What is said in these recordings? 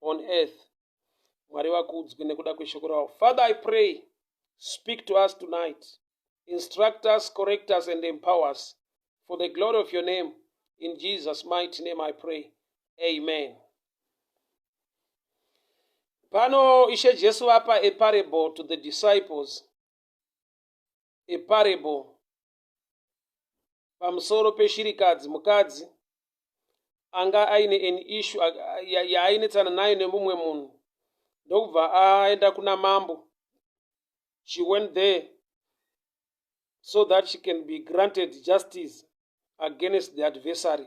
on earth mwari vakuudzwe nekuda kweshoko ravo father i pray speak to us tonight instruct us correct us and empower us for the glory of your name in jesus mighty name i pray amen pano ishe jesu vapa a parable to the disciples a parable pamusoro peshirikadzi mukadzi anga aine an issue yaainetsana nayo nemumwe munhu ndokubva aenda kuna mambo she went there so that she can be granted justice against the adversary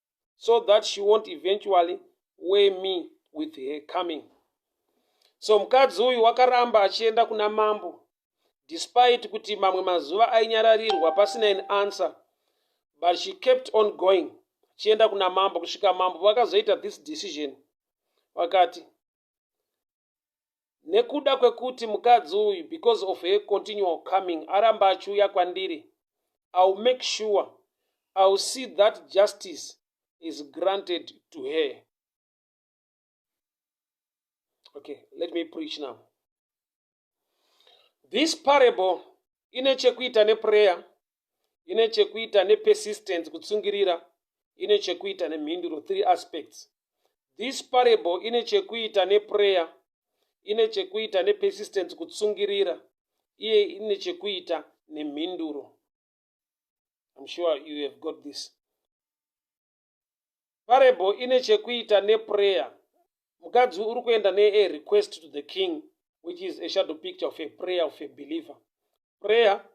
so that she won't eventually weigh me with her coming so mukadzi uyu wakaramba achienda kuna mambo despite kuti mamwe mazuva ainyararirwa pasina an answer but she kept on going achienda kuna mambo kusvika mambo vakazoita this decision vakati nekuda kwekuti mukadzi uyu because of her continual coming aramba achiuya kwandiri iwill make sure iwill see that justice is granted to her okay let me preach now this parable ine chekuita neprayer ine chekuita nepersistence kutsungirira ine chekuita nemhinduro three aspects this parable ine chekuita neprayer ine chekuita nepersistence kutsungirira iye ine chekuita nemhinduro im sure you have got this parable ine chekuita neprayer mukadzi uri kuenda nearequest to the king which is a shadow picture of a prayer of a believer prayer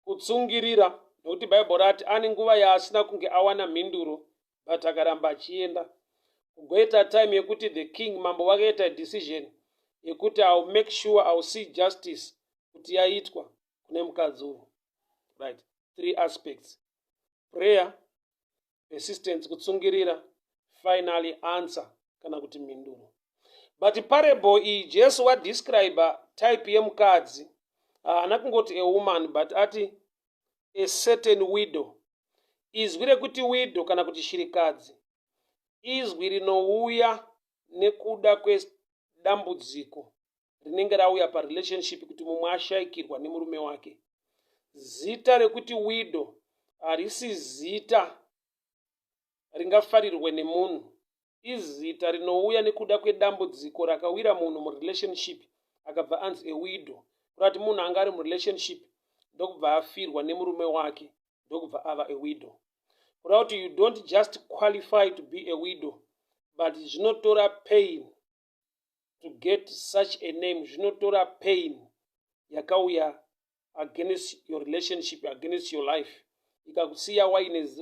kutsungirira nokuti bhaibheri rati ane nguva yaasina kunge awana mhinduro but akaramba achienda kugoita time yekuti the king mambo vakaita decision yekuti iw make sure iw see justice kuti yaitwa kune mukadzi uyu right three aspects prayer persistence kutsungirira finally answer kana kuti mhinduro but parable iyi jesu wadescribe type yemukadzi haana kungoti a woman but ati a certain widow izwi rekuti widow kana kuti shirikadzi izwi rinouya nekuda kwedambudziko rinenge rauya parelationship kuti mumwe ashaikirwa nemurume wake zita rekuti widow harisi zita ringafarirwe nemunhu izita rinouya nekuda kwedambudziko rakawira munhu murelationship akabva anzi ewido kurati munhu anga ari murelationship ndokubva afirwa nemurume wake ndokubva ava ewido kuda kuti you don't just qualify to be ewido but zvinotora pain to get such a name zvinotora pain yakauya against your relationship against your life ikakusiya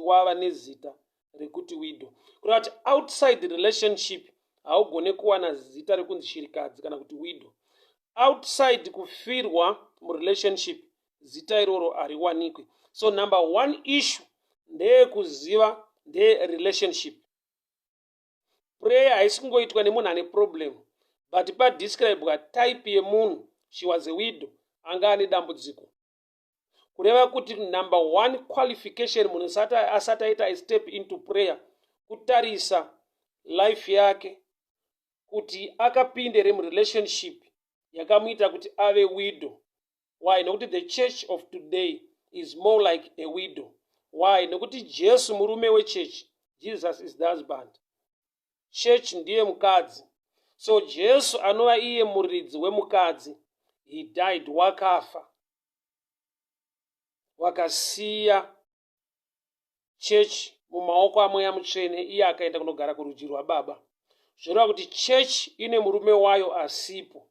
wava nezita rekuti widow kureva kuti outside the relationship haugone kuwana zita rekunzi shirikadzi kana kuti widow outside kufirwa murelationship zita iroro hariwanikwe so number one issue ndeyekuziva nderelationship prayer haisi kungoitwa nemunhu ane problem but padescribwa type yemunhu she was a widow anga ane dambudziko kureva kuti number one qualification munhu asati aita istep into prayer kutarisa life yake kuti akapinde remurelationship yakamuita kuti ave widow why nokuti the church of today is more like a widow why nokuti jesu murume wechurch jesus is the husband church ndiye mukadzi so jesu anova iye muridzi wemukadzi he died wakafa wakasiya church mumaoko amweya mutsvene iye akaenda kunogara kurudyi rwababa zvoreva kuti church ine murume wayo asipo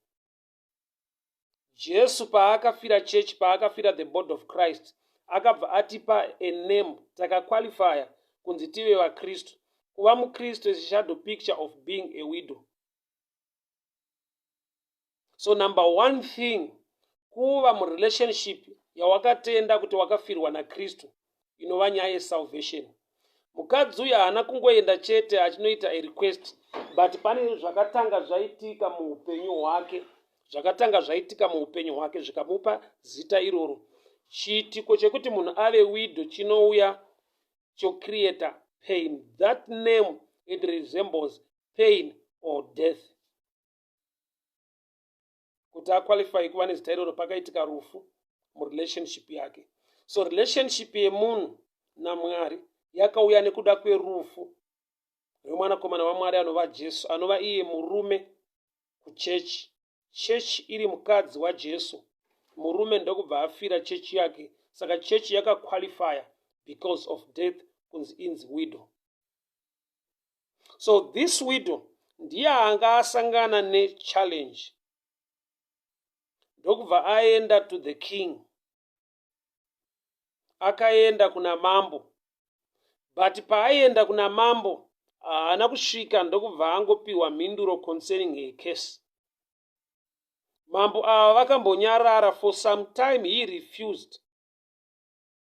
jesu paakafira church paakafira the body of christ akabva atipa a name takaqualifya kunzi tive vakristu kuva mukristu is shadow picture of being a widow so number one thing kuva murelationship yawakatenda kuti wakafirwa nakristu inova nyaya yesalvation mukadzi uyu haana kungoenda chete achinoita irequest but pane zvakatanga zvaitika muupenyu hwake zvakatanga zvaitika muupenyu hwake zvikamupa zita iroro chiitiko chekuti munhu ave wido chinouya chocreata pain that name it resembles pain or death kuti aqualify kuva nezita iroro pakaitika rufu murelationship yake so relationship yemunhu namwari yakauya nekuda kwerufu rwemwanakomana wamwari anova jesu anova iye murume kuchechi chechi iri mukadzi wajesu murume ndokubva afira chechi yake saka chechi yakaqualifya because of death kunzi inzi widow so this widow ndiye anga asangana nechallenge ndokubva aenda to the king akaenda kuna mambo but paaienda kuna mambo haana kusvika ndokubva angopiwa mhinduro concerning her case mambo ava vakambonyarara for some time he refused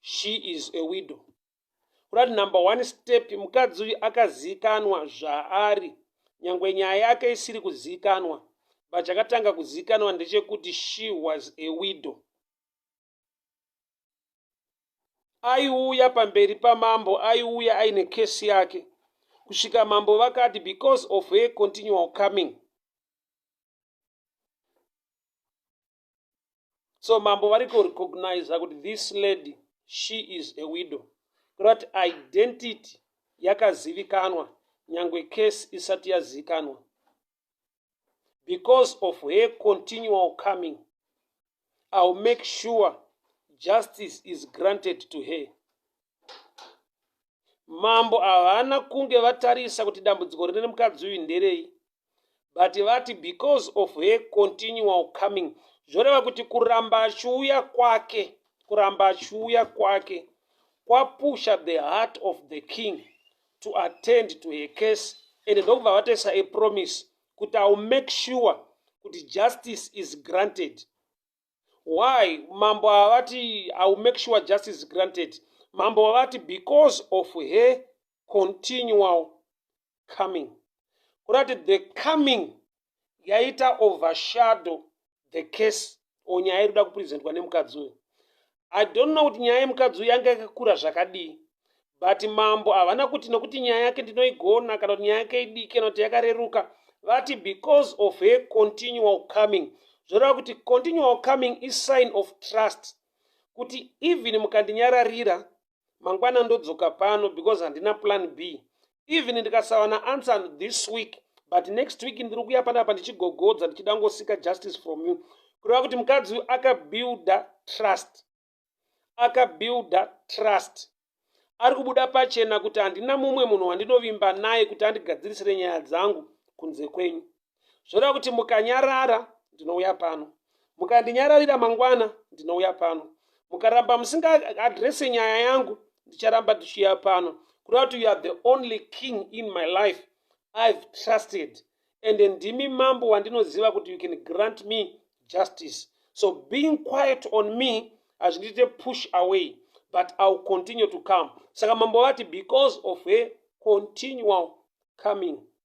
she is a widow kurati number one step mukadzi uyu akaziikanwa zvaari nyangwe nyaya yake isiri kuziikanwa but chakatanga kuziikanwa ndechekuti she was a widow aiuya pamberi pamambo aiuya aine kesi yake kusvika mambo vakati because of her continual coming so mambo vari kurecogniza kuti this lady she is a widow kureva kuti identity yakazivikanwa nyange case isati yazivikanwa because of her continual coming ill make sure justice is granted to her mambo havana kunge vatarisa kuti dambudziko rine mukadzi uyu nderei but vati because of her continual coming zvoreva kuti kuramba achiuya kwake kuramba achiuya kwake kwapusha the heart of the king to attend to her case and ndokubva vatoisa apromise kuti iwill make sure kuti justice is granted why mambo havati i will make sure justice granted mambo vavati because of her continual coming kurati the coming yaita overshadow the case or nyaya iri kuda kupresentwa nemukadzi uyo I don't know kuti nyaya yemukadzi uyu yanga yakakura zvakadii but mambo havana kuti nokuti nyaya yake ndinoigona kana kuti nyaya yake idiki kana kuti yakareruka vati because of her continual coming zvoreva kuti continual coming isign of trust kuti even mukandinyararira mangwana ndodzoka pano because handina plan b even ndikasawana answer this week but next week ndiri kuya panapa ndichigogodza ndichida ngosika justice from you kureva kuti mukadzi uyu akabuilda trust akabuilda trust ari kubuda pachena kuti handina mumwe munhu wandinovimba naye kuti andigadzirisire nyaya dzangu kunze kwenyu zvoda kuti mukanyarara ndinouya pano mukandinyararira mangwana ndinouya pano mukaramba musingaadrese nyaya yangu ndicharamba ndichiuya pano kuda kuti youare the only king in my life i've trusted ende ndimi mambo wandinoziva kuti you can grant me justice so being quiet on me hazvindiite push away but iwill continue to come saka mambo vati because of her continual coming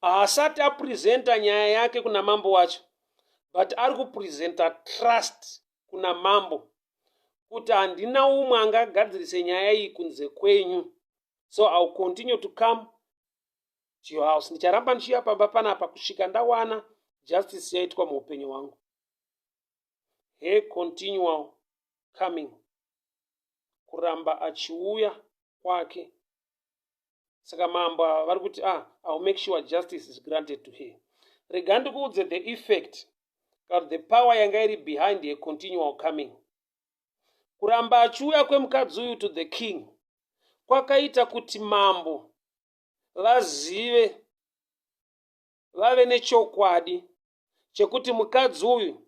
haasati apresenta nyaya yake kuna mambo wacho but ari kupresenta trust kuna mambo kuti handina umwe angagadzirise nyaya iyi kunze kwenyu so ill continue to come to your house ndicharamba ndichiuya pamba panapa kusvika ndawana justice yaitwa muupenyu hwangu he continual coming kuramba achiuya kwake saka mambo ava vari kuti ah iwill make sure justice is granted to her rega ndikuudze the effect kana the power yanga iri behind her continual coming kuramba achiuya kwemukadzi uyu to the king kwakaita kuti mambo vazive vave nechokwadi chekuti mukadzi uyu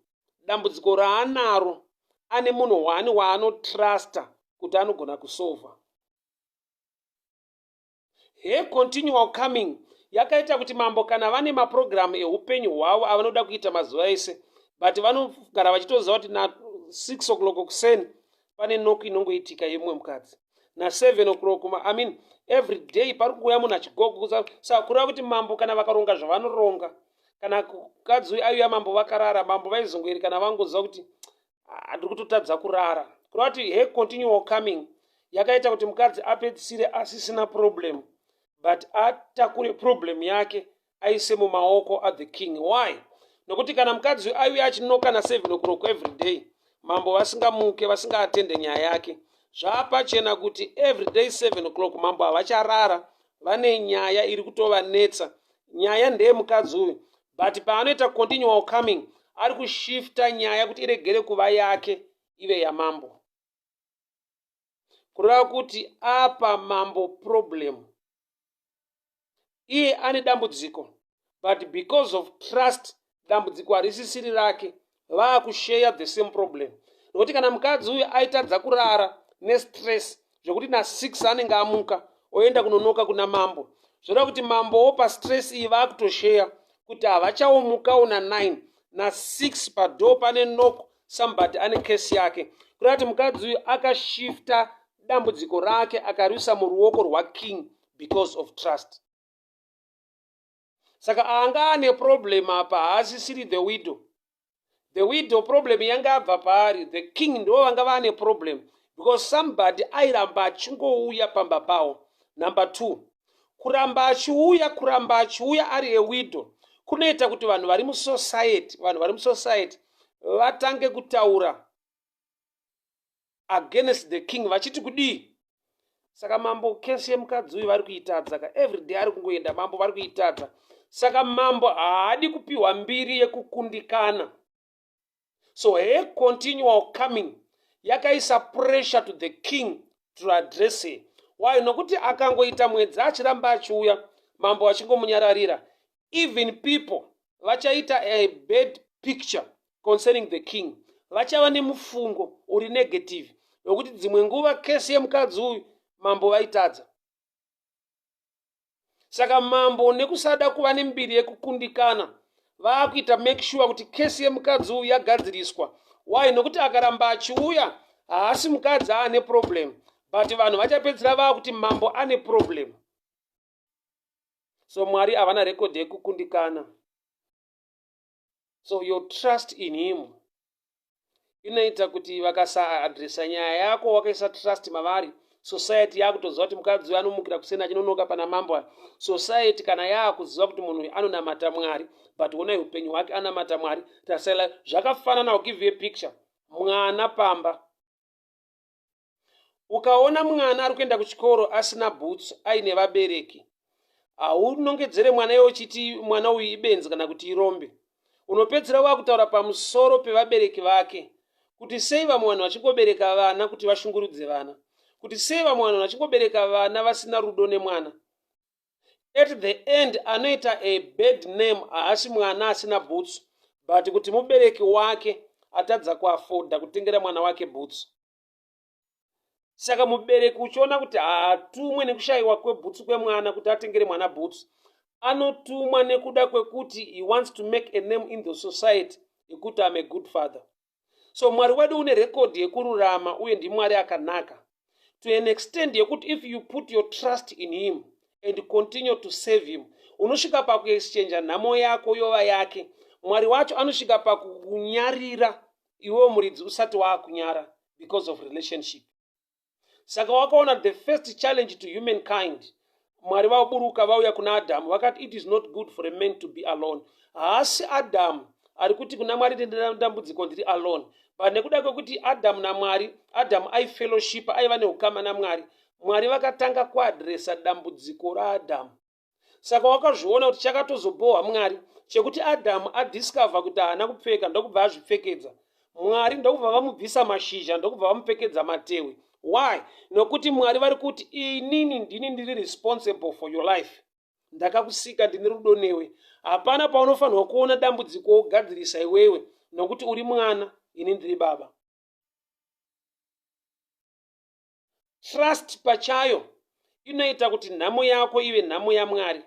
dambudziko raanaro ane munhu hwani waanotrusta kuti anogona kusova he continual coming yakaita kuti mambo kana vane mapurogiramu eupenyu hwavo avanoda kuita mazuva ese but vanogara vachitoziva kuti na six o'clock kuseni pane noku inongoitika yemumwe mukadzi naseven o'clock i mean every day pari kuuya munhu achigokusa kureva kuti mambo kana vakaronga zvavanoronga kana mukadzi uyu aiuya mambo vakarara mambo vaizongoerekana vangonzwa kuti handiri ah, kutotadza kurara kureva kuti he continual coming yakaita kuti mukadzi apedzisire asisina problem but atakure problem yake aise mumaoko athe king why nokuti kana mukadzi uyu aiuya achinoka naseven o'clock every day mambo vasingamuke vasingaatende nyaya yake zvaapachena kuti every day seven o'clock mambo havacharara vane nyaya iri kutovanetsa nyaya ndeye mukadzi uyu but paanoita continual coming ari kushifta nyaya kuti iregere kuva yake ive yamambo kureva kuti apa mambo problem iye ane dambudziko but because of trust dambudziko harisisiri rake vaakusheya the same problem nokuti kana mukadzi uyu aitadza kurara nestress zvekuti na six anenge amuka oenda kunonoka kuna mambo zvoda kuti mambowo pastress iyi vaakutosheya kuti havachaomukawo na nine na six padoo pane nok somebody ane case yake kureva kuti mukadzi uyu akashifta dambudziko rake akariusa muruoko rwaking because of trust saka anga ane problem apa haasisiri the widow the widow problem yanga abva paari the king ndo vanga vaane problem because somebody airamba achingouya pamba pawo number two kuramba achiuya kuramba achiuya ari ewidow kunoita kuti vanhu vari musociety vanhu vari musociety vatange kutaura against the king vachiti kudii saka mambo kesi yemukadzi uyu vari kuitadza ka everyday ari kungoenda mambo vari kuitadza saka mambo haadi kupiwa mbiri yekukundikana so he continual coming yakaisa pressure to the king to address her why nokuti akangoita mwedzi achiramba achiuya mambo achingomunyararira even people vachaita a bad picture concerning the king vachava nemufungo uri negative wekuti dzimwe nguva kesi yemukadzi uyu mambo vaitadza saka mambo nekusada kuva nembiri yekukundikana vaakuita make sure kuti kesi yemukadzi uyu yagadziriswa why nokuti akaramba achiuya haasi mukadzi aane problem but vanhu vachapedzisira vaakuti mambo ane problem so mwari havana rekodhi yekukundikana so your trust in him inoita kuti vakasaadresa nyaya yako wakaisa trust mavari society yakutoziva kuti mukadzi uyo anomukira kuseni achinonoka pana mambo aya society kana yakuziva kuti munhu uyu anonamata mwari but onai upenyu hwake anamata mwari tasaila zvakafanana ukive picture mwana pamba ukaona mwana ari kuenda kuchikoro asina boots aine vabereki haunongedzere mwana iwe uchiti mwana uyu ibenzi kana kuti irombe unopedzisira wakutaura pamusoro pevabereki vake kuti sei vamwe vanhu vachingobereka vana kuti vashungurudze vana kuti sei vamwe vanhu vachingobereka vana vasina rudo nemwana at the end anoita a bad name haasi mwana asina bhutsu but kuti mubereki wake atadza kuafoda kutengera mwana wake bhutsu saka mubereki uchiona kuti haatumwe nekushayiwa kwebhutsu kwemwana kuti atengere mwana bhutsu anotumwa nekuda kwekuti he wants to make a name in the society yekuti am a good father so mwari wedu une rekodhi yekururama uye ndimwari akanaka to an extend yekuti if you put your trust in him and continue to save him unosvika pakuexchange nhamo yako yova yake mwari wacho anosvika pakukunyarira iwewo muridzi usati waakunyara because of relationship saka wakaona the first challenge to human kind mwari vaburuka vauya kuna adamu vakati it is not good for a man to be alone haasi adamu ari kuti kuna mwari ndinedambudziko ndiri alone but nekuda kwekuti adamu namwari adamu aifellowship aiva neukama namwari mwari vakatanga kuadresa dambudziko raadamu saka wakazviona kuti chakatozobhohwa mwari chekuti adhamu adiscover kuti haana kupfeka ndokubva azvipfekedza mwari ndokubva vamubvisa mashizha ndokubva vamupfekedza matewe why nokuti mwari vari kuti inini ndini ndiri responsible for your life ndakakusika ndine rudo newe hapana paunofanirwa kuona dambudziko wogadzirisa iwewe nokuti uri mwana ini ndiri baba Trust pachayo inoita kuti nhamo yako ive nhamo yaMwari.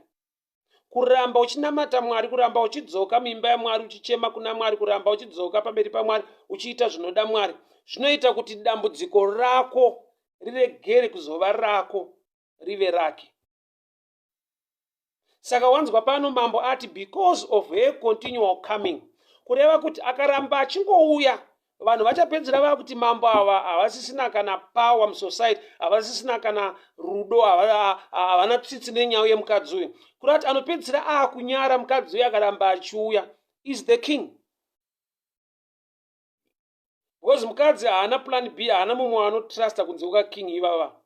Kuramba uchinamata Mwari, kuramba uchidzoka muimba yaMwari, uchichema kuna Mwari, kuramba uchidzoka pamberi paMwari, uchiita zvinoda Mwari, zvinoita kuti dambudziko rako riregere kuzova rako, rive rake. saka wanzwa pano mambo ati because of her continual coming kureva kuti akaramba achingouya vanhu vachapedzera vava kuti mambo ava havasisina kana power musociety havasisina kana rudo havana tsitsi nenyau yemukadzi uyu kuri kuti anopedzisira aakunyara mukadzi uyu akaramba achiuya is the king because mukadzi haana plan b haana mumwe anotrusta kunze kuka king ivava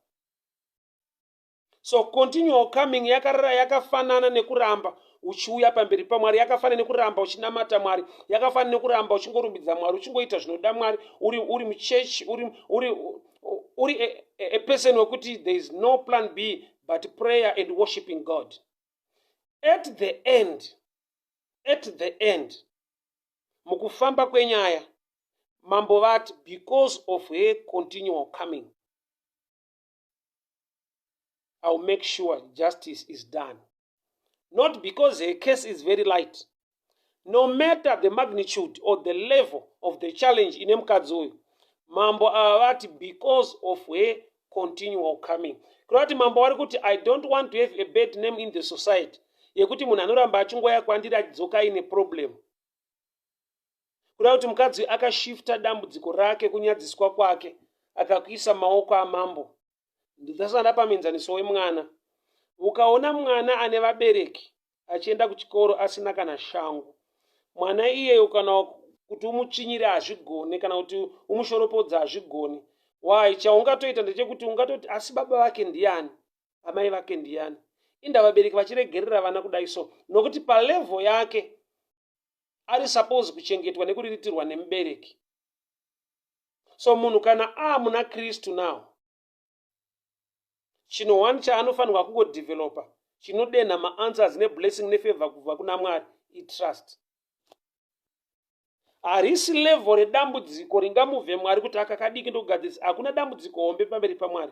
so continual coming yakarara yakafanana nekuramba uchiuya pamberi pamwari yakafanana nekuramba uchinamata mwari yakafanana nekuramba uchingorumbidza mwari uchingoita zvinoda mwari uri uri muchechi uri uri uri a, a person wekuti there is no plan b but prayer and worshiping god at the end at the end mukufamba kwenyaya mambo vati because of her continual coming I'll make sure justice is done. Not because her case is very light. No matter the magnitude or the level of the challenge in Mkadzui, Mambo Avati, because of her continual coming. Kurati Mambo Varikuti, I don't want to have a bad name in the society. Yekuti munhu anoramba achingoya kwandiri achidzoka ine problem. kuda kuti mukadzi akashifta dambudziko rake kunyadziswa kwake akakuisa maoko amambo ndidhasanda pamenzaniso wemwana ukaona mwana ane vabereki achienda kuchikoro asina kana shangu mwana iyeyo kana kuti umuchinyire hazvigone kana kuti umushoropodza hazvigone why chaungatoita ndechekuti ungatoti asi baba vake ndiyani amai vake ndiyani inda vabereki vachiregerera vana kudai so nokuti palevo yake ari suppose kuchengetwa nekuriritirwa nemubereki so munhu kana aamuna kristu now chino one chaanofanirwa kungodevelopa chinodenha maanswers neblessing nefavor kubva kuna mwari itrust harisi level redambudziko ringamuvhe mwari kuti akakadiki ndokugadzirisa hakuna dambudziko hombe pamberi pamwari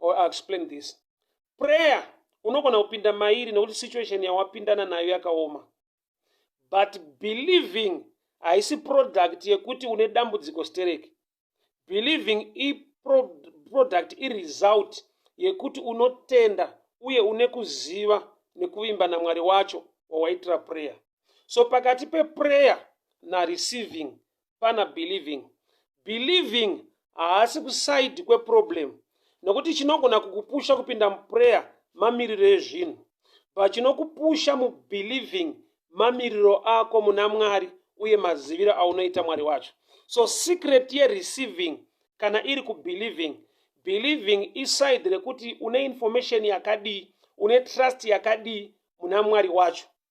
or I'll explain this prayer unogona kupinda mairi nekuti situation yawapindana nayo yakaoma but believing haisi product yekuti une dambudziko stereki believing iproduct iresult yekuti unotenda uye une kuziva nekuvimba namwari wacho wawaitira prayer so pakati peprayer nareceiving pana believing believing haasi kusaidi kweproblem nokuti chinogona kukupusha kupinda muprayer mamiriro ezvinhu but chinokupusha mubelieving mamiriro ako muna mwari uye maziviro aunoita mwari wacho so secret yereceiving kana iri kubelieving believing iside rekuti une information yakadii une trust yakadii muna mwari wacho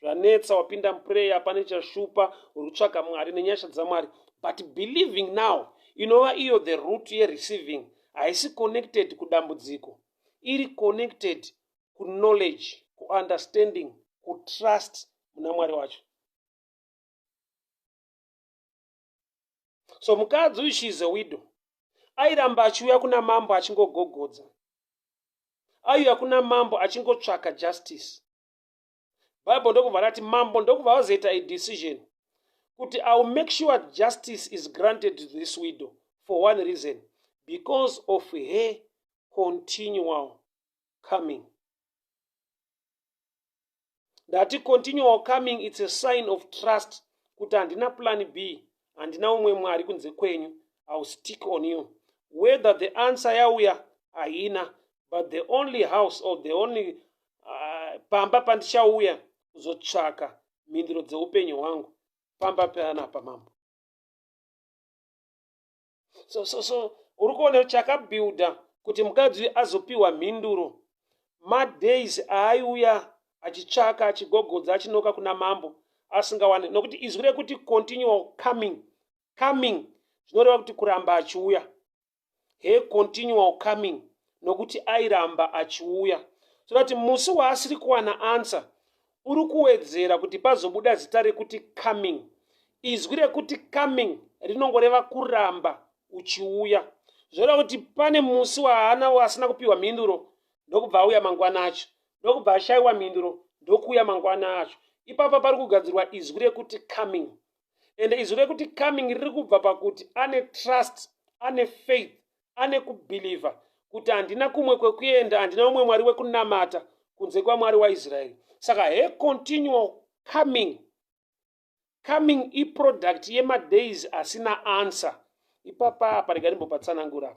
zvanetsa wapinda muprayer pane chashupa uri kutsvaga mwari nenyasha dzamwari but believing now inova iyo the root yereceiving haisi connected kudambudziko iri connected kuknowledge kuunderstanding kutrust muna mwari wacho so mukadzi uyu she is a widow airamba achiuya kuna mambo achingogogodza aiuya kuna mambo achingotsvaka justice bible ndokubva rati mambo ndokubva vazoita idecision kuti iwill make sure justice is granted to this widow for one reason because of her continual coming ndati continual coming its a sign of trust kuti handina plan b handina umwe mwari kunze kwenyu ill stick on you whether the answer yauya haina but the only house or the only uh, pamba pandichauya kuzotsvaka mhinduro dzeupenyu hwangu pamba panapa mambo so so so uri kuona chakabuilda kuti mukadzi uyu azopiwa mhinduro madays aaiuya achitsvaka achigogodza achinoka kuna mambo asingawane nokuti izwi rekuti continual coming coming zvinoreva kuti kuramba achiuya he continual coming nokuti airamba achiuya so that musi waasiri kuwana answer uri kuwedzera kuti pazobuda zita rekuti coming izwi rekuti coming rinongoreva kuramba uchiuya zvoda kuti pane musi waana asina kupiwa mhinduro ndokubva auya mangwana acho ndokubva ashaiwa mhinduro ndokuuya mangwana acho ipapa pari kugadzirwa izwi rekuti coming ende izwi rekuti coming riri kubva pakuti ane trust ane faith ane kubhilivha kuti handina kumwe kwekuenda handina umwe mwari wekunamata kunze kwamwari waisraeri saka he continual coming coming iproduct yemadays asina answer ipapa apa rega ndimbopatsanangura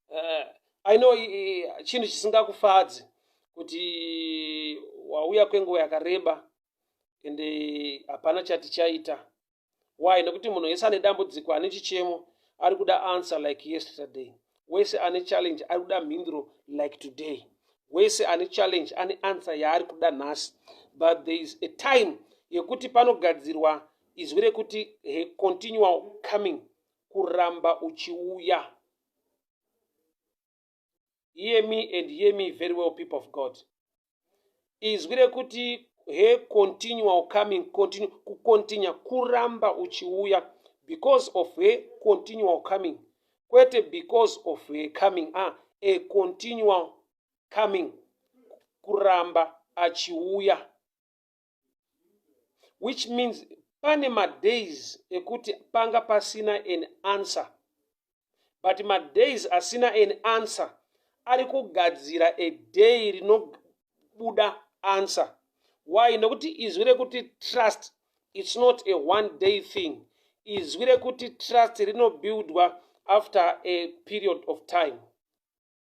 uh, i know chinhu chisingakufadzi kuti wauya kwenguva yakareba ende hapana chatichaita why nekuti munhu wese ane dambudziko ane chichemo ari kuda answer like yesterday wese ane challenge ari kuda mhinduro like today wese ane challenge ane answer yaari kuda nhasi but there is a time yekuti panogadzirwa izwi rekuti he continual coming kuramba uchiuya hear me and hear me very well people of god izwi rekuti he continual coming continue kucontinua kuramba uchiuya because of he continual coming kwete because of he coming a ah, a continual coming kuramba achiuya which means pane madays ekuti panga pasina an answer but madays asina an answer ari kugadzira a day rinobuda answer why nekuti izwi rekuti trust its not a one day thing izwi rekuti trust rinobuildwa after a period of time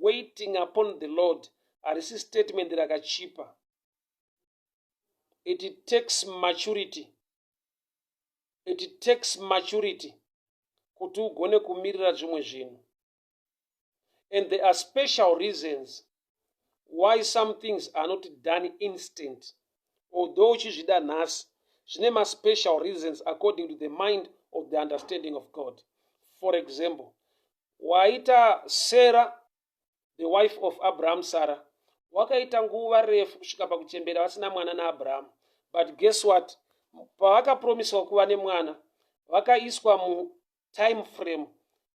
waiting upon the lord harisi statement rakachipa it takes maturity it takes maturity kuti ugone kumirira zvimwe zvinhu and there are special reasons why some things are not done instant although uchizvida nhasi zvine maspecial reasons according to the mind of the understanding of god for example Waita Sarah, the wife of Abraham, Sarah. Wakaita nguva refu kusvika pakuchembera vasina mwana naAbraham. But guess what? Pavakapromiswa kuva nemwana, vakaiswa mutime frame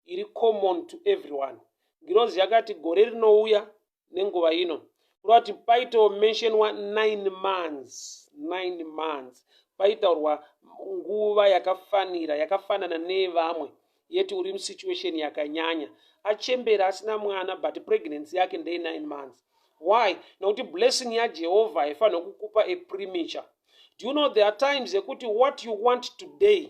iri common to everyone. Ngirozi yakati gore rinouya nenguva ino kureva kuti paitawo mentionwa nine months nine months paitaurwa nguva yakafanira yakafanana nevamwe yeti uri musituation yakanyanya achembera asina mwana but pregnancy yake ndeye nine months why nokuti blessing yajehovha haifanira kukupa apremature do you know there are times ekuti what you want today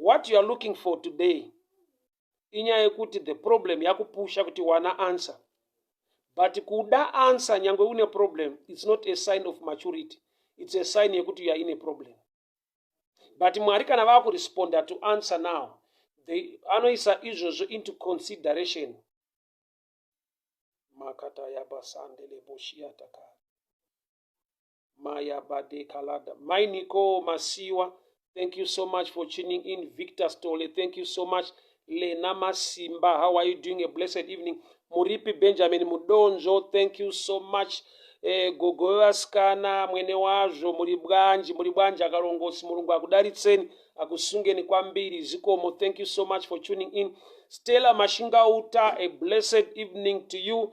what you are looking for today inyaya yekuti the problem yakupusha kuti wana answer but kuda answer nyange une problem its not a sign of maturity its a sign yekuti you are in a problem but mwari kana vakuresponda to answer now they anoisa izvozvo into consideration makatayabasandele boshiyataka maya bade kalada mai niko masiwa thank you so much for tuning in victor stole thank you so much lena masimba how are you doing a blessed evening muripi benjamin mudonzvo thank you so much eh, gogo vevasikana mwene wazvo muri bwanji muri bwanji akarongosi murungu akudaritseni akusungeni kwambiri zikomo thank you so much for tuning in stella mashingauta a blessed evening to you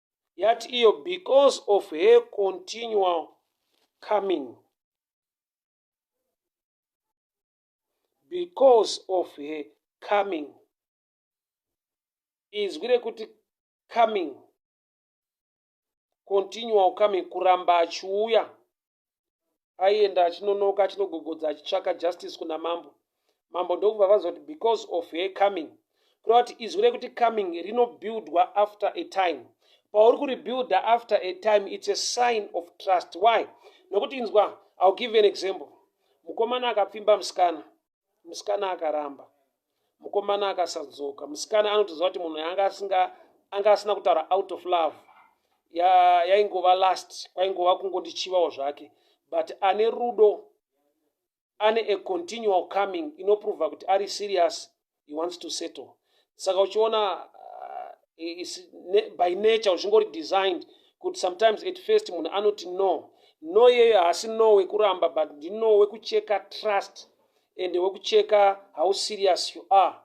yati iyo because of her continual coming because of her coming izwi rekuti coming continual coming kuramba achiuya aienda achinonoka achinogogodza achitsvaka justice kuna mambo mambo ndokubva vazoti because of her coming kureva kuti izwi rekuti coming rinobuildwa after a time pauri kuribuilda after a time its a sign of trust why nokuti inzwa ill give an example mukomana akapfimba musikana musikana akaramba mukomana akasadzoka musikana anotoziva kuti munhu yanga asinga anga asina kutaura out of love yaingova ya last kwaingova kungondichivawo zvake but ane rudo ane a continual coming inoprova kuti ari serious he wants to settle saka uchiona uh, by nature uchingori designed kuti sometimes at first munhu anoti no no iyeyo haasi no wekuramba but ndino wekucheka trust and wekucheka how serious you are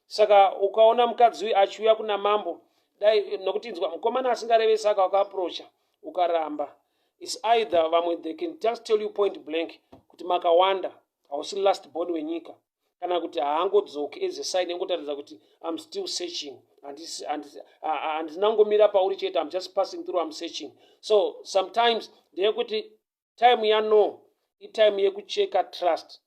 saka ukaona mukadzi uyu achiuya kuna mambo dai nokuti inzwa mukomana asingareve saka wakaaprocha ukaramba is either vamwe they can just tell you point blank kuti makawanda hausi last born wenyika kana kuti haangodzoki as a sign engotaridza kuti im still searching handina ngomira pauri chete im just passing through im searching so sometimes ndeyekuti time yano itime yekucheka trust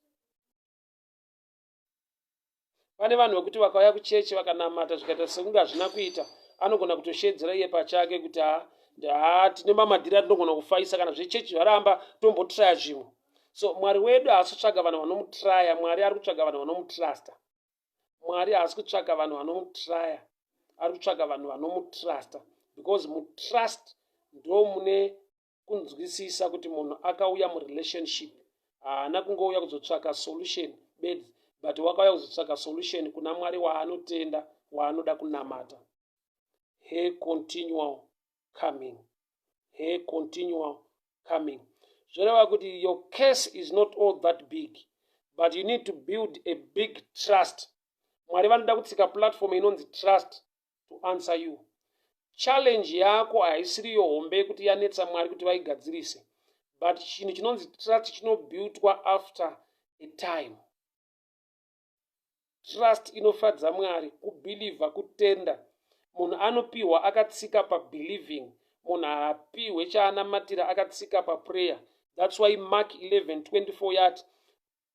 pane vanhu vekuti vakauya kuchechi vakanamata zvikaita sekunge hazvina kuita anogona kutosheedzera iye pachake kuti ha tine mamadhiri atinogona kufaisa kana zvechechi zvaramba tombotraya zvimwe so mwari wedu haasi kutsvaga vanhu vanomutraya mwari ari kutsvaga vanhu vanomutrusta mwari haasi kutsvaga vanhu vanomutraya ari kutsvaga vanhu vanomutrusta because mutrust ndo mune kunzwisisa kuti munhu akauya murelationship haana kungouya kuzotsvaka solution bedzi but wakauya kuzotsvaka solution kuna mwari waanotenda waanoda kunamata he continual coming her continual coming zvoreva kuti your case is not all that big but you need to build a big trust mwari vanoda kutsika platform inonzi trust to answer you challenge yako haisiri yo hombe yekuti yanetsa mwari kuti vaigadzirise but chinhu chinonzi trust chinobuildwa after a time trust inofadza mwari kubhilivha kutenda munhu anopiwa akatsika pabhiliving munhu haapiwe chaanamatira akatsika paprayer thats why mark 11 24 yati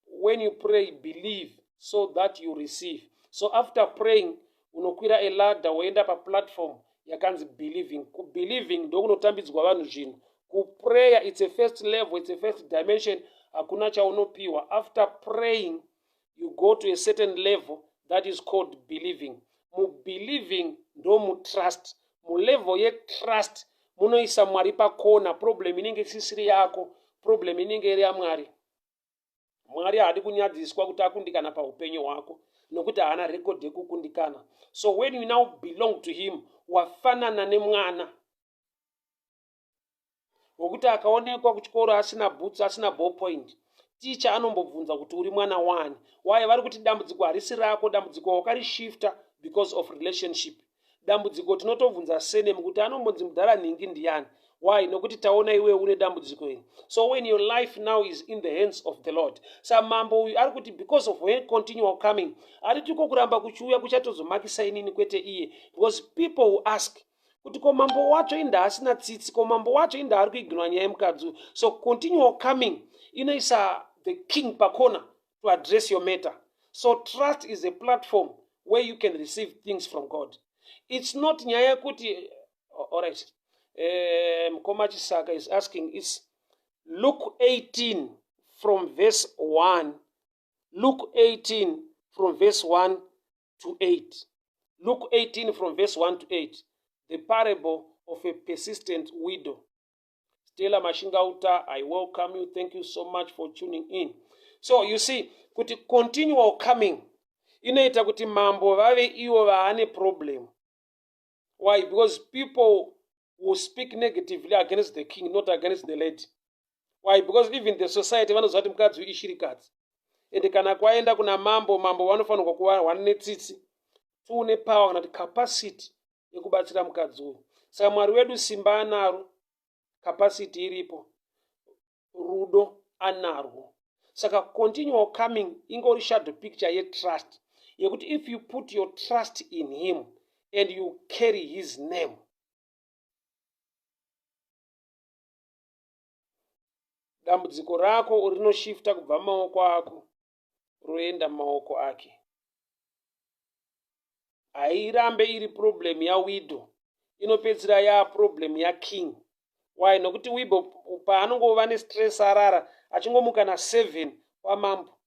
when you pray believe so that you receive so after praying unokwira elada woenda paplatform yakanzi believing kubelieving ndokunotambidzwa vanhu zvinhu kuprayer its a first level its a first dimension hakuna chaunopiwa after praying you go to a certain level that is called believing mubelieving ndomutrust mulevel yetrust munoisa mwari pakona problem inenge isisiri yako problem inenge iri yamwari mwari haadi kunyadziswa kuti akundikana paupenyu hwako nokuti haana rekodhi yekukundikana so when you now belong to him wafanana nemwana wokuti akaonekwa kuchikoro asina boots asina ball point ticha anombobvunza kuti uri mwana wani waye vari kuti dambudziko harisi rako dambudziko wakarishifta because of relationship dambudziko tinotobvunza senemu kuti anombonzi mudhara nhingi ndiyani why nokuti taona iwe une dambudziko iri so when your life now is in the hands of the lord sa mambo uyu ari kuti because of her continual coming ari tiko kuramba kuchiuya kuchatozomakisa inini kwete iye because people who ask kuti ko mambo wacho inda asina tsitsi ko mambo wacho inda ari kuiginwa nyaya yemukadzi uyu so continue coming inoisa the king pakona to address your matter so trust is a platform where you can receive things from god it's not nyaya yekuti allright eh, mukoma um, chisaka is asking is luke 18 from verse 1 Luke 18 from verse 1 to 8. Luke 18 from verse 1 to 8. The parable of a persistent widow. Stella Mashingauta, I welcome you. Thank you so much for tuning in. So you see, kuti continual coming inoita kuti mambo vave ivo vaane problem why because people will speak negatively against the king not against the lady why because even the society vanoziva kuti mukadzi uyu ishirikadzi ende kana kwaenda kuna mambo mambo vanofanirwa kuva one netsitsi two nepower kana kuti capacity yekubatsira mukadzi uyu saka mwari wedu simba anaro capacity iripo rudo anarwo saka continual coming ingori shadow picture yetrust yekuti if you put your trust in him and you carry his name dambudziko rako rinoshifta kubva maoko ako roenda mumaoko ake hairambe iri problem yawidow inopedzisira yaa problem yaking why nokuti wibo paanongova nestress arara achingomuka naseven kwamambo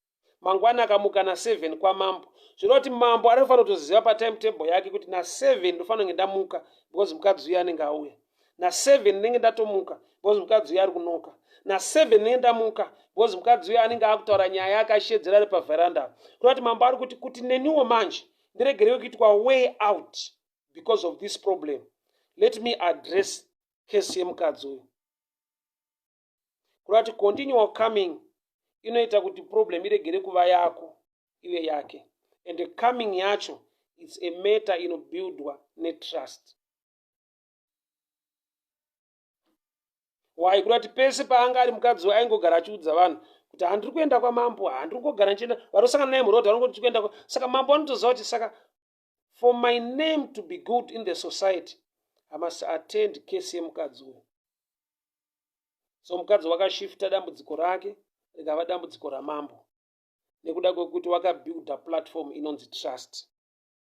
mangwana akamuka naseven kwamambo zvinova kuti mambo anofanira kutoziva patimetable yake kuti naseven ndofanira kunge ndamuka because mukadzi uya anenge auya naseven ndinenge ndatomuka because mukadzi uyo ari kunoka naseven ndinenge ndamuka because mukadzi uyo anenge akutaura nyaya yake ashedzera ari pavheranda kuda kuti mambo ari kuti kuti neniwo manje ndiregerewo kuitwa way out because of this problem let me address case yemukadzi uyo kuda kuti continual coming inoita kuti problem iregere kuva yako ive yake and coming yacho its a matter inobuildwa netrust why kurati pese paanga ari mukadzi we aingogara achiudza vanhu kuti handiri kuenda kwamambo handiri kungogara ndichienda vanosangana naye muroad vanongo tichikuenda saka mambo vanotoziva kuti saka for my name to be good in the society i must attend case yemukadzi uyu so mukadzi wakashifta dambudziko rake rikava dambudziko ramambo nekuda kwekuti wakabuilda platform inonzi trust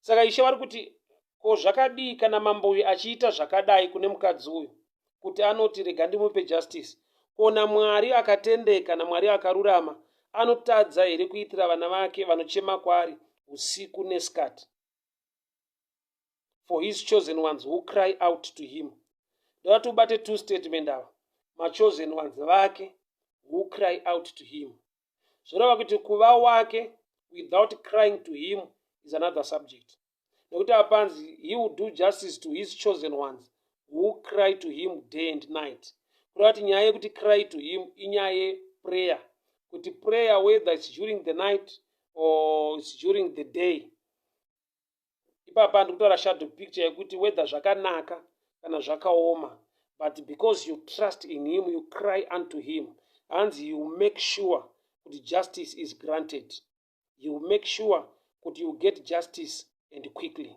saka ishe vari kuti ko zvakadii kana mambo uyu achiita zvakadai kune mukadzi uyu kuti anoti rega ndimupe justice kona mwari akatendeka namwari akarurama anotadza here kuitira vana vake vanochema kwaari usiku neskati for his chosen ones who cry out to him ndovati ubate two statement ava machosen ones vake who cry out to him zvoreva kuti kuva wake without crying to him is another subject nekuti apanzi he will do justice to his chosen ones who cry to him day and night kureva kuti nyaya yekuti cry to him inyaya yeprayer kuti prayer whether its during the night or its during the day ipapa ndikutora shadow picture yekuti whether zvakanaka kana zvakaoma but because you trust in him you cry unto him hanzi you make sure kuti justice is granted you make sure kuti you get justice and quickly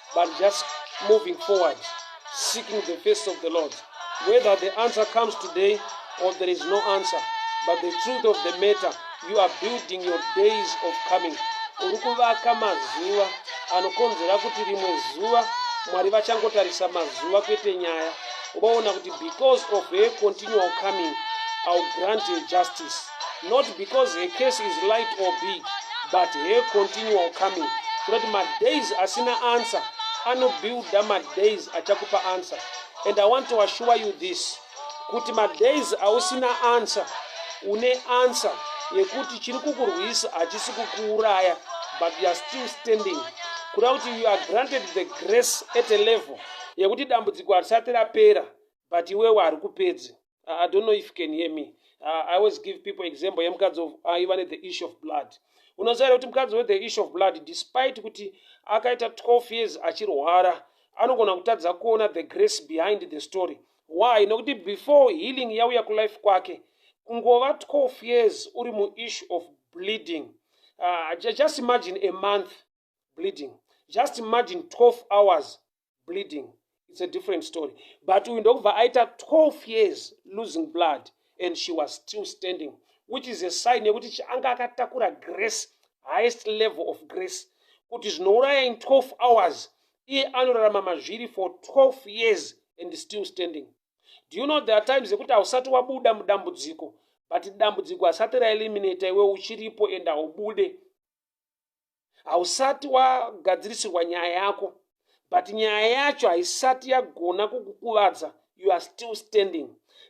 but just moving forward seeking the face of the lord whether the answer comes today or there is no answer but the truth of the matter you are building your days of coming uri kuvaka mazuva anokonzera kuti rimwe zuva mwari vachangotarisa mazuva kwete nyaya ubaona kuti because of her continual coming ill grant her justice not because her case is light or big but her continual coming tinoti madays asina answer anobuilda madays achakupa answer and i want to assure you this kuti madays ausina answer une answer yekuti chiri kukurwisa hachisi kukuuraya but youare still standing kuda kuti you are granted the grace at a level yekuti dambudziko harisati rapera but iwewe hari kupedzi uh, i don't know if you can hear me uh, i always give people example yemukadzi aiva uh, nethe issue of blood unoziva here kuti mukadzi wethe issue of blood despite kuti akaita 12 years achirwara anogona kutadza kuona the grace behind the story why nokuti before healing yauya kulife kwake kungova 12 years uri muissue of bleeding uh, just imagine a month bleeding just imagine 12 hours bleeding it's a different story but uyu ndokubva aita 12 years losing blood and she was still standing which is a sign yekuti chianga akatakura grace highest level of grace kuti zvinouraya in 12 hours iye anorarama mazviri for 12 years and still standing do you know there are times yekuti hausati wabuda mudambudziko but dambudziko hasati raeliminata iwe uchiripo and haubude hausati wagadzirisirwa nyaya yako but nyaya yacho haisati yagona kukukuvadza you are still standing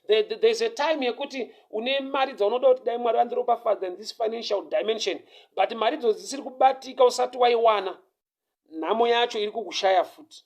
there's a time yekuti une mari dzaunoda kuti dai mwari vandiropafadza in this financial dimension but mari dzo dzisiri kubatika usati waiwana nhamo yacho iri kukushaya futi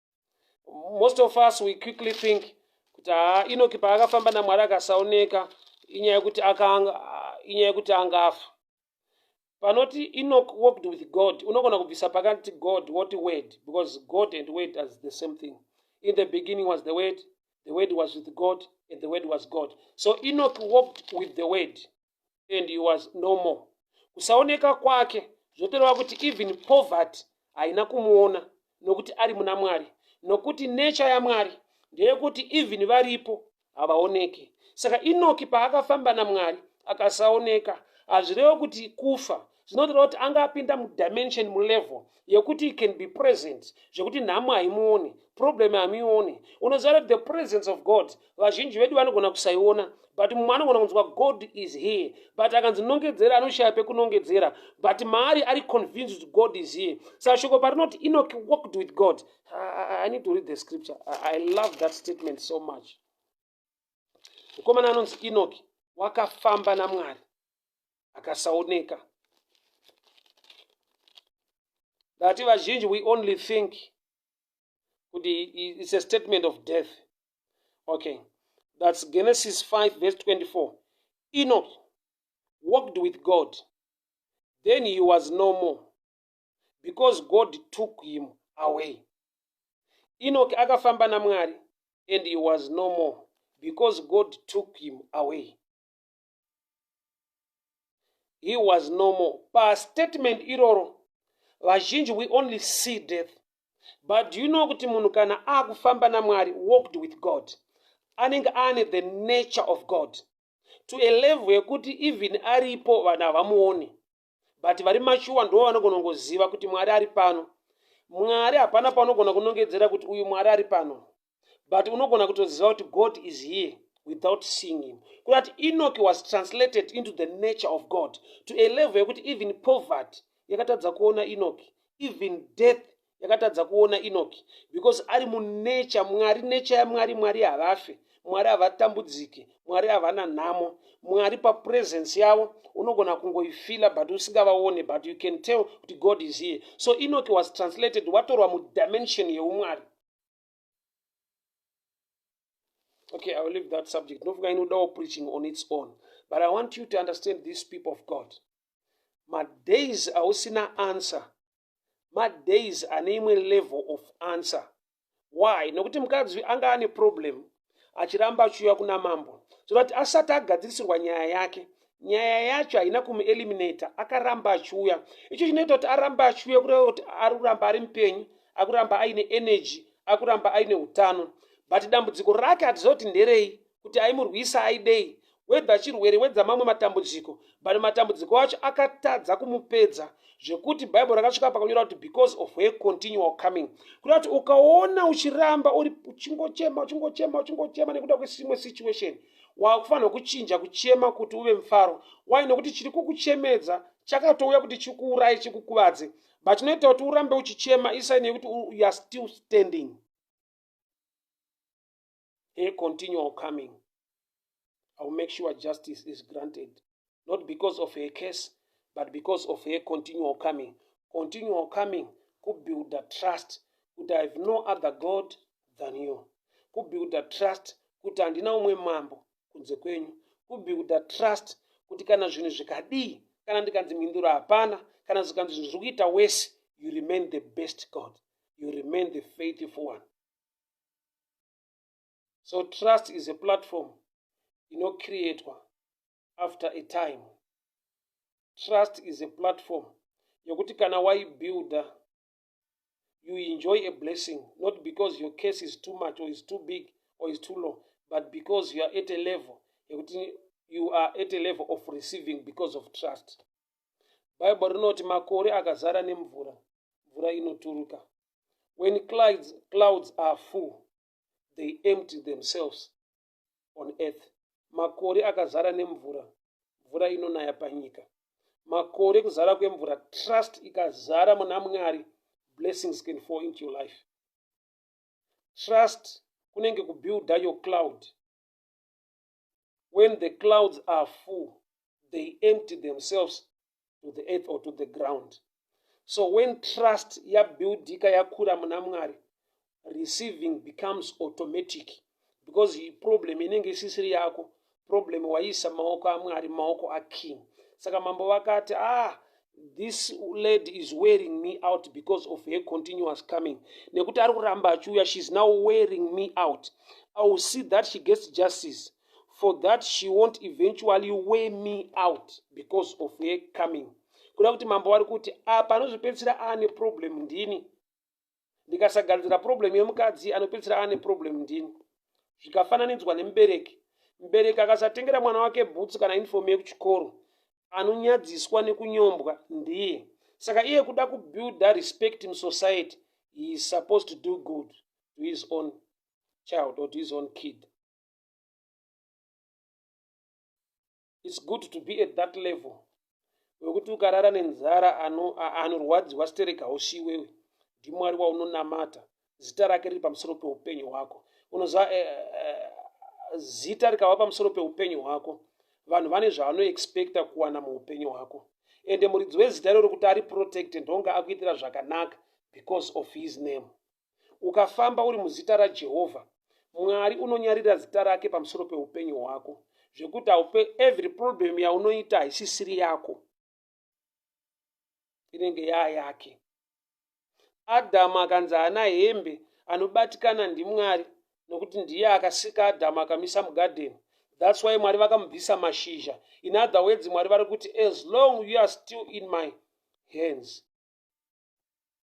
most of us we quickly think kuti haa inoki paakafamba namwari akasaoneka inyaya yekuti akanga inyaya yekuti anga afa panoti enoch walked with god unogona kubvisa pakati god woti word because god and word as the same thing in the beginning was the word the word was with god and the word was god so enoch walked with the word and he was no more kusaoneka kwake zvotoreva kuti even poverty haina kumuona nokuti ari muna mwari nokuti nature yamwari ndeyekuti even varipo havaoneki saka inoki paakafamba namwari akasaoneka hazvirevo kuti kufa zvinotoreva kuti anga apinda mudimension mulevel yekuti he can be present zvekuti nhamo haimuoni problem hamioni unoziva kuti the presence of god vazhinji vedu vanogona kusaiona but mumwe anogona kunzwa god is here but akanzi nongedzera anoshaya pekunongedzera but maari ari convinced kuti god is here sashoko parinoti enoch walked with god I, I, i need to read the scripture I, i love that statement so much mukomana anonzi inoki wakafamba namwari akasaoneka ndati vazhinji we only think kuti its a statement of death okay thats genesis 5 verse 24 enoch walked with god then he was no more because God took him away. Enoch akafamba naMwari and he was no more because God took him away. He was no more. Pa statement iroro vazhinji we only see death. But do you know kuti munhu kana akufamba naMwari walked with God anenge ane the nature of God to a level yekuti even aripo vanhu havamuoni. but vari mashuwa ndo vanogona kungoziva kuti mwari ari pano mwari hapana paunogona kunongedzera kuti uyu mwari ari pano but unogona kutoziva kuti god is here without seeing him kudati enoki was translated into the nature of god to a level yekuti even poverty yakatadza kuona enoki even death yakatadza kuona enoki because ari munature mwari nature yamwari mwari havafe mwari havatambudzike mwari havana nhamo mwari papresence yavo unogona kungoifila but usingavaone but you can tell kuti god is here so enoki was translated watorwa mudimension yeumwari okay i will leave that subject ndofunga inodawo preaching on its own but i want you to understand these people of god madays ausina answer madays ane imwe level of answer why nokuti mukadzi anga ane problem achiramba achiuya kuna mambo zvoda kuti asati agadzirisirwa nyaya yake nyaya yacho haina kumueliminator akaramba achiuya icho chinoita kuti aramba achiuya kureva kuti ari kuramba ari mupenyu akuramba aine energy akuramba aine utano but dambudziko rake hatiziva kuti nderei kuti aimurwisa aidei whether chirwere wedza mamwe matambudziko but matambudziko acho akatadza kumupedza zvekuti bhaibheri rakasvika pakanyora kuti because of her continual coming kuda kuti ukaona uchiramba uri uchingochema uchingochema uchingochema nekuda kwesimwe situation wakufanirwa kuchinja kuchema kuti uve mufaro wai nokuti chiri kukuchemedza chakatouya kuti chikuuraye chikukuvadze but chinoita kuti urambe uchichema isaini yekuti youare still standing a continual coming i will make sure justice is granted not because of her case but because of her continual coming continual coming kubuilda trust kuti i have no other god than you kubuilda trust kuti handina umwe mambo kunze kwenyu kubuilda trust kuti kana zvinhu zvikadii kana ndikanzi mhinduro hapana kana zvikanzi zvinhu zviri kuita wese you remain the best god you remain the faithful one so trust is a platform inocreatwa after a time trust is a platform yokuti kana waibuilder you enjoy a blessing not because your case is too much or is too big or is too low but because you are at a level yekuti you are at a level of receiving because of trust bible rinoti makore akazara nemvura mvura inoturuka when clouds, clouds are full they empty themselves on earth makore akazara nemvura mvura inonaya panyika makore kuzara kwemvura trust ikazara muna mwari blessings can fall into your life trust kunenge kubuilda your cloud when the clouds are full they empty themselves to the earth or to the ground so when trust yabuildika yakura muna mwari receiving becomes automatic because he problem inenge isisiri yako problem waiisa maoko amwari maoko aking saka mambo vakati ah this lady is wearing me out because of her continuous coming nekuti ari kuramba achiuya sheis now wearing me out i will see that she gets justice for that she won't eventually wear me out because of her coming kuda kuti mambo vari kuti apa anozopedzisira aane problem ndini ndikasagadzira problem yemukadzi anopedzisira ane problem ndini zvikafananidzwa nemubereki mubereki akasatengera mwana wake bhutsu kana uniform yekuchikoro anonyadziswa nekunyombwa ndiye saka iye kuda kubuilda respect musociety he is supposed to do good to his own child or to his own kid its good to be at that level wekuti ukarara nenzara anorwadziwa sterek hausi iwewe ndimwari waunonamata zita rake riri pamusoro peupenyu hwako unoziva uh, eh, uh, eh, zita rikava pamusoro peupenyu hwako vanhu vane zvavanoexpecta kuwana muupenyu hwako ende muridzi wezita iroro kuti ari protected ndonga akuitira zvakanaka because of his name Ukafamba uri muzita raJehovha, Mwari unonyarira zita rake pamusoro peupenyu hwako zvekuti haupe every problem yaunoita haisisiri yako inenge yaa yake. Adhamu akanzi haana hembe anobatikana ndiMwari nokuti ndiye akasika Adhamu akamisa mugadheni. That's why Mwari vakamubvisa mashizha. In other words, Mwari vari kuti as long you are still in my hands.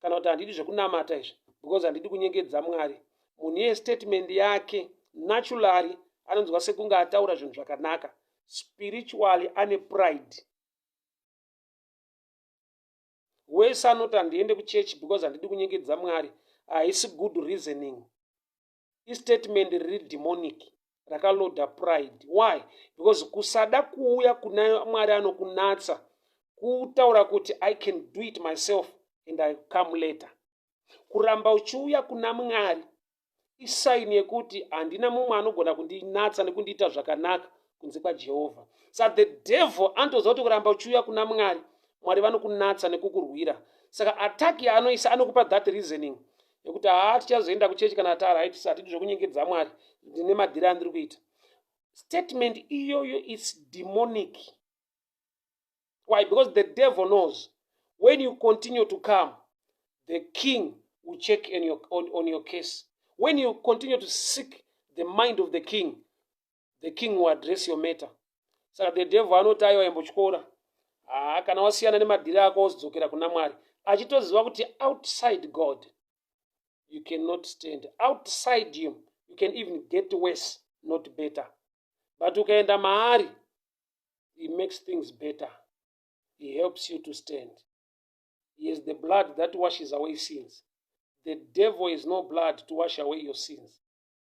kana kuti handidi zvekunamata izvi because handidi kunyengedza mwari munhu iye statement yake naturally anonzwa sekunge ataura zvinhu zvakanaka spiritually ane pride wese anoti handiende kuchechi because handidi kunyengedza mwari haisi good reasoning istatement riri demonic rakaloda pride why because kusada kuuya kuna mwari anokunatsa kutaura kuti i can do it myself and i come later kuramba uchiuya kuna mwari isaini yekuti handina mumwe anogona kundinatsa nekundiita zvakanaka kunze kwajehovha sa the devil anotoziva kuti kuramba uchiuya kuna mwari mwari vanokunatsa nekukurwira saka attack yaanoisa anokupa that reasoning nekuti haa tichazoenda kuchechi kana taari haitisi hatidi zvekunyengedza mwari ndine madhiri andiri kuita statement iyoyo is demonic why because the devil knows when you continue to come the king will check in your, on, on your case when you continue to seek the mind of the king the king will address your matter saka the devil anoti aiwa imbotyora haa kana wasiyana nemadhiri ako wozidzokera kuna mwari achitoziva kuti outside god you cannot stand outside him you can even get worse not better but ukaenda maari he makes things better he helps you to stand he is the blood that washes away sins the devil is no blood to wash away your sins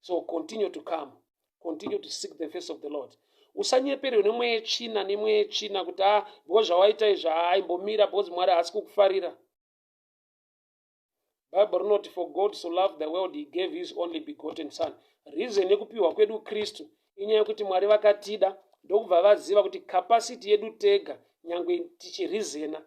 so continue to come continue to seek the face of the lord usanyeperwe nemweya yetsvina nemweya yetsvina kuti a ah, because zvawaita izvi haaimbomira because mwari haasi kukufarira bible rinoti for god so love the world he gave his only begotten son reason yekupiwa kwedu kristu inyaya yekuti mwari vakatida ndokubva vaziva kuti capacity yedu tega nyange tichirizena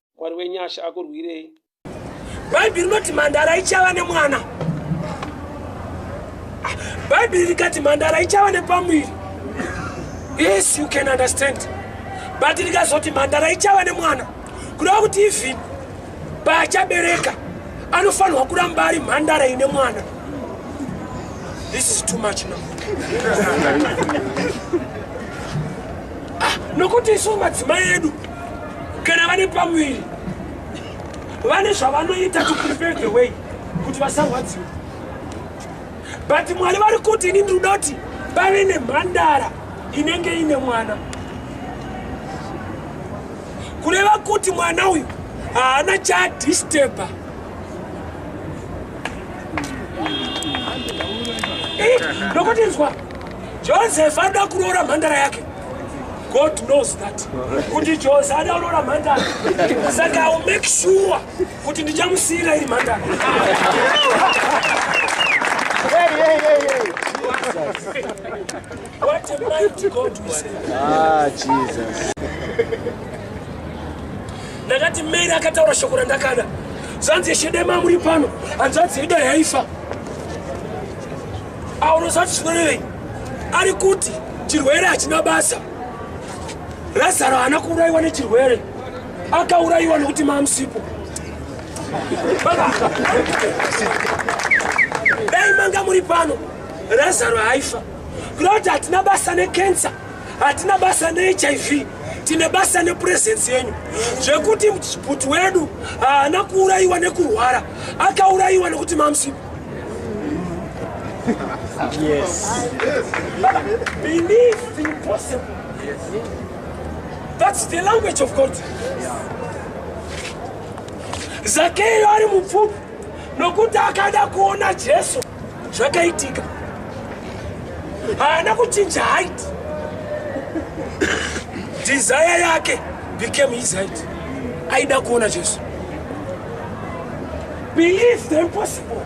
mwari wenyasha akurwirei bhaibheri rinoti mhandara ichava nemwana bhaibheri rikati mhandara ichava nepamuviri yes you can understand but rikazoti mhandara ichava nemwana kureva kuti even paachabereka anofanirwa kuramba ari mhandara ine mwana this is too much now ah, nokuti isu madzimai edu kana vane pamuviri vane zvavanoita to prepare the way kuti vasarwadziwa but mwari vari kuti ini ndiri kuda kuti pave nemhandara inenge ine mwana kureva kuti mwana uyu haana chadisteba nokuti nzwa Joseph anoda kuroora mhandara yake. God knows that. Kuti Jose anoda kuroora mhandara. Saka I will make sure kuti ndichamusiyira iri mhandara. Hey, hey, hey, hey. What a mighty God we serve. Ah, Jesus. Ndakati Mary akataura shoko randakada. Zvanzi Shedema muri pano. Hanzvadzi yedu yaifa. Awo unoziva kuti zvinorevei? Ari kuti chirwere hachina basa. Razaro haana kuurayiwa nechirwere, akaurayiwa nekuti mamusipo. Dai manga muri pano, Razaro haifa. Kuda kuti hatina basa nekensa, hatina basa neHIV, tine basa nepurezensi yenyu zvekuti muchiputi wedu haana kuurayiwa nekurwara akaurayiwa nekuti mamsipo Yes. yes. Believe the impossible. Yes. That's the language of God. Zakeyo ari mupfupi nokuti akada kuona Jesu zvakaitika. Haana kuchinja height. Desire yake became his height. Aida kuona Jesu. Believe the impossible.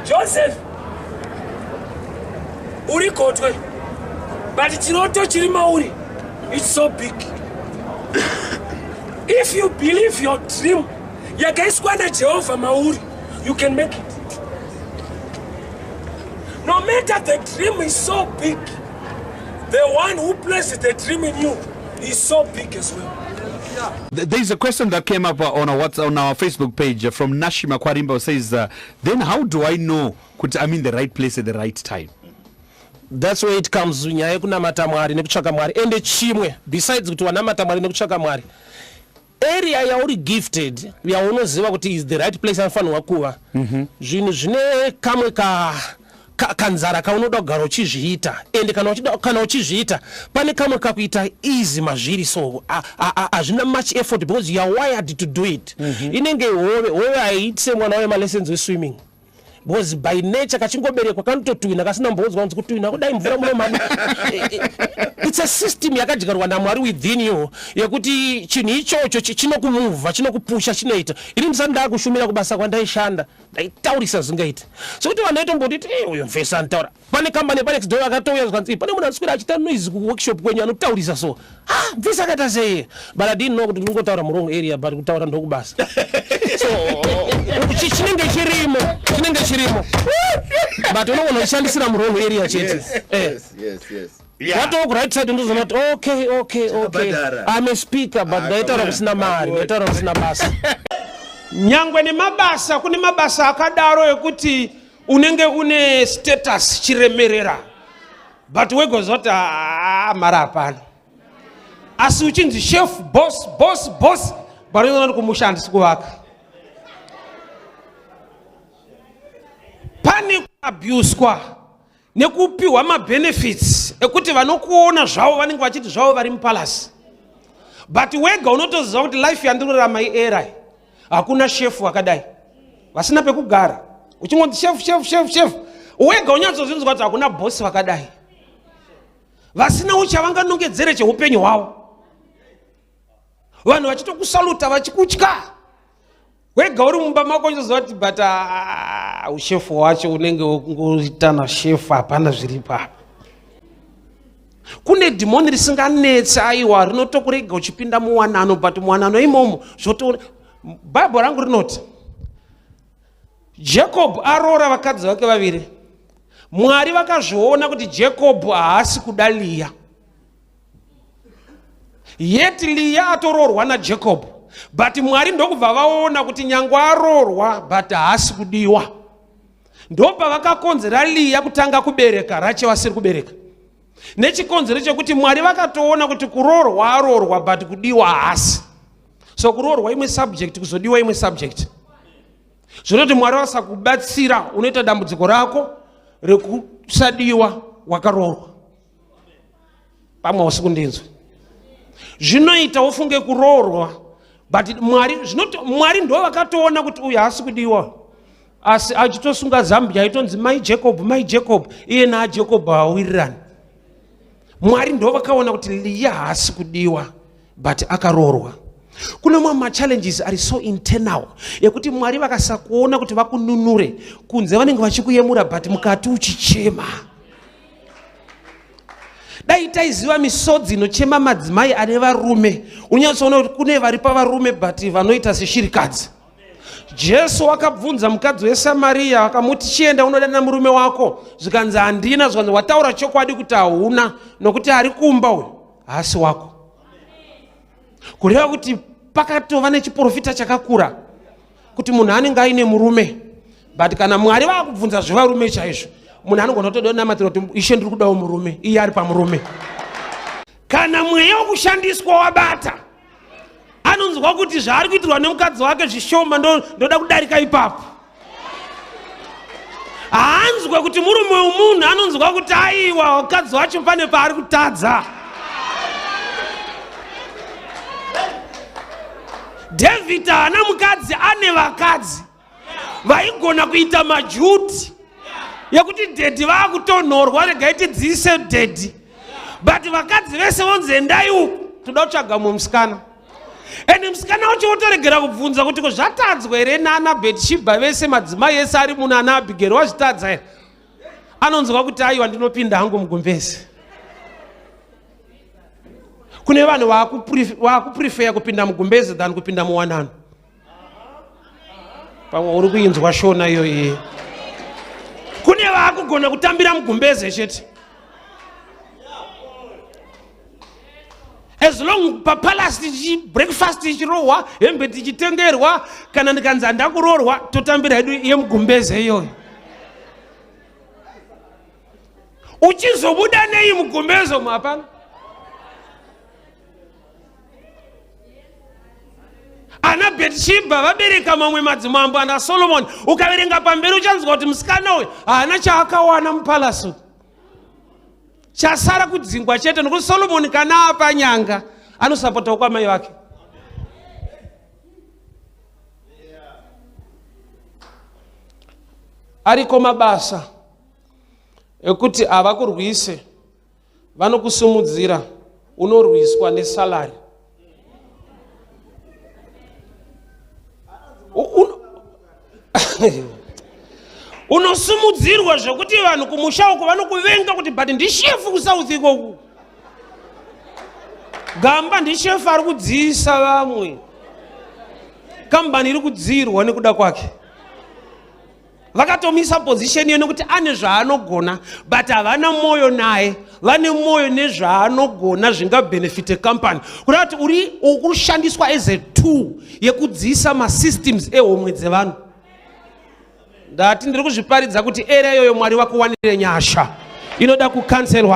Joseph uri gotwe but chiroto chiri mauri it's so big if you believe your dream yakaiswa najehovha mauri you can make it no matter the dream is so big the one who places the dream in you He's so big as well. There's a question that came up uh, on our, WhatsApp, on our Facebook page uh, from Nashi Makwarimba says, uh, then how do I know kuti I'm in the right place at the right time? That's where it comes nyaya yekunamata Mwari nekutsvaka Mwari. Ende chimwe besides kuti wanamata Mwari nekutsvaka Mwari. area yauri gifted yaunoziva kuti is the right place anofanirwa kuva mhm. zvinhu zvine kamwe ka kanzara kaunoda kugara uchizviita ende kana uchizviita pane kamwe kakuita easy mazviri so hazvina much effort because youare wired to do it mhm. inenge hove hove haiitise mwana waye malessons weswimming because by nature kachingoberekwa kanototwina kasina mbonzwa kunzi kutwina kudai mvura munomana its a system yakadyarwa namwari within you yekuti chinhu ichocho chinokumuvha chinokupusha chinoita ini ndisati ndakushumira kubasa kwandaishanda ndaitaurisa zvingaita sokuti vanhu vaitombotiti uyo mfesi anotaura pane kambani yepanex door akatouya zvikanzi pane munhu anoswera achiita noise kuworkshop kwenyu anotaurisa so ah mvisa akaita sei but i didn't know kuti ndingotaura murong area but kutaura ndokubasa so chinenge chirimo chinenge chirimo but unogona kushandisira murong area chete eh. watowo kuright side ndozoona kuti okay okay okay i'm a speaker but ah, ndaitaura kusina mari ndaitaura kusina basa nyangwe nemabasa kune mabasa akadaro ekuti unenge une status chiremerera but wegozoti ah, mari hapana asi uchinzi chef boss boss boss banoona kumusha handisi kuvaka pane kuabuswa nekupiwa mabenefits ekuti vanokuona zvavo vanenge vachiti zvavo vari mupalasi but wega unotoziva kuti life yandinorarama ierai hakuna shefu akadai vasina pekugara uchingonzi shefu shefu shefu shefu wega unyatsozvinzwa kuti hakuna bhosi vakadai vasina uchavanganongedzere cheupenyu hwavo vanhu vachitokusaluta vachikutya wega uri mumba mako uchizoziva kuti but ah, ah, ushefu wacho unenge ngoitana shefu hapana zviripo apa kune dhimoni risinganetse aiwa rinotokurega uchipinda muwanano but muwanano imomo zvotoona bhaibho rangu rinoti jakobho aroora vakadzi vake vaviri mwari vakazviona kuti jakobho haasi kuda liya yet liya atoroorwa najakobho but mwari ndokubva vaona kuti nyange aroorwa but haasi kudiwa ndopavakakonzera liya kutanga kubereka rachewa asiri kubereka nechikonzero chekuti mwari vakatoona kuti kuroorwa aroorwa but kudiwa haasi so kuroorwa imwe subject kuzodiwa imwe subject zvinoti mwari vasakubatsira unoita dambudziko rako rekusadiwa wakaroorwa pamwe hausi kundinzwa zvinoita wofunge kuroorwa but mwari zvinoti mwari ndo vakatoona kuti uyu haasi kudiwa asi achitosunga zambia aitonzi mai jacob mai jacob iye naajacob hawirirani mwari ndo vakaona kuti liya haasi kudiwa but akaroorwa kune mamwe machallenges ari so internal yekuti mwari vakasakuona kuti vakununure kunze vanenge vachikuyemura but mukati uchichema dai taiziva misodzi inochema madzimai ane varume unyatsoona kuti kune vari pavarume but vanoita seshirikadzi jesu wakabvunza mukadzi wesamariya akamuti chienda unodana murume wako zvikanzi handina zvikanzi wataura chokwadi kuti hauna nokuti ari kumba uyu haasi wako kureva kuti pakatova nechiporofita chakakura kuti munhu anenge aine murume but kana mwari vakubvunza zvevarume chaizvo munhu anogona kutoda namatira kuti ishe ndiri kudawo murume iye ari pamurume kana mweya wekushandiswa wabata anonzwa kuti zvaari kuitirwa nemukadzi wake zvishoma ndoda kudarika ipapo haanzwe kuti murume wemunhu anonzwa kuti aiwa mukadzi wacho pane paari kutadza dhavhidha haana mukadzi ane vakadzi vaigona kuita majuti yekuti dhedhi vaakutonhorwa regai tidziise dhedhi but vakadzi vese vonzi endai uku toda kutsvaga mumwe musikana and musikana wacho wotoregera kubvunza kuti ko zvatadzwa here naana bhetishibha vese madzimai ese ari muno ana abhigeri wazvitadza here anonzwa kuti aiwa ndinopinda hangu mugumbezi kune vanhu vakuprefeya kupinda mugumbezi than kupinda muwanano pamwe uri kuinzwa shona iyoyi kune vaakugona kutambira mugumbeze chete as long papalace tichi breakfast tichirohwa hembe tichitengerwa kana ndikanzi handa kuroorwa totambira hedu yemugumbeze iyoyo uchizobuda nei mugumbeze umu hapana ana bhetishibha vabereka mamwe madzimambo ana solomoni ukaverenga pamberi uchanzwa kuti musikana uyu haana chaakawana mupalasu chasara kudzingwa chete nokuti solomoni kana apa nyanga anosapotawo kwamai vake ariko mabasa ekuti havakurwise vanokusimudzira unorwiswa nesalary unosimudzirwa zvekuti vanhu kumusha uko vanokuvenga kuti but ndishefu kusouth ikoku gamba ndishefu ari kudziisa vamwe kambani iri kudziirwa nekuda kwake vakatomisa position iyo nekuti ane zvaanogona but havana mwoyo naye vane mwoyo nezvaanogona zvingabenefite company kuda kuti uri ukushandiswa as a two yekudziisa masystems ehomwe dzevanhu ndati ndiri kuzviparidza kuti area iyoyo mwari vakuwanire nyasha inoda kucancelwa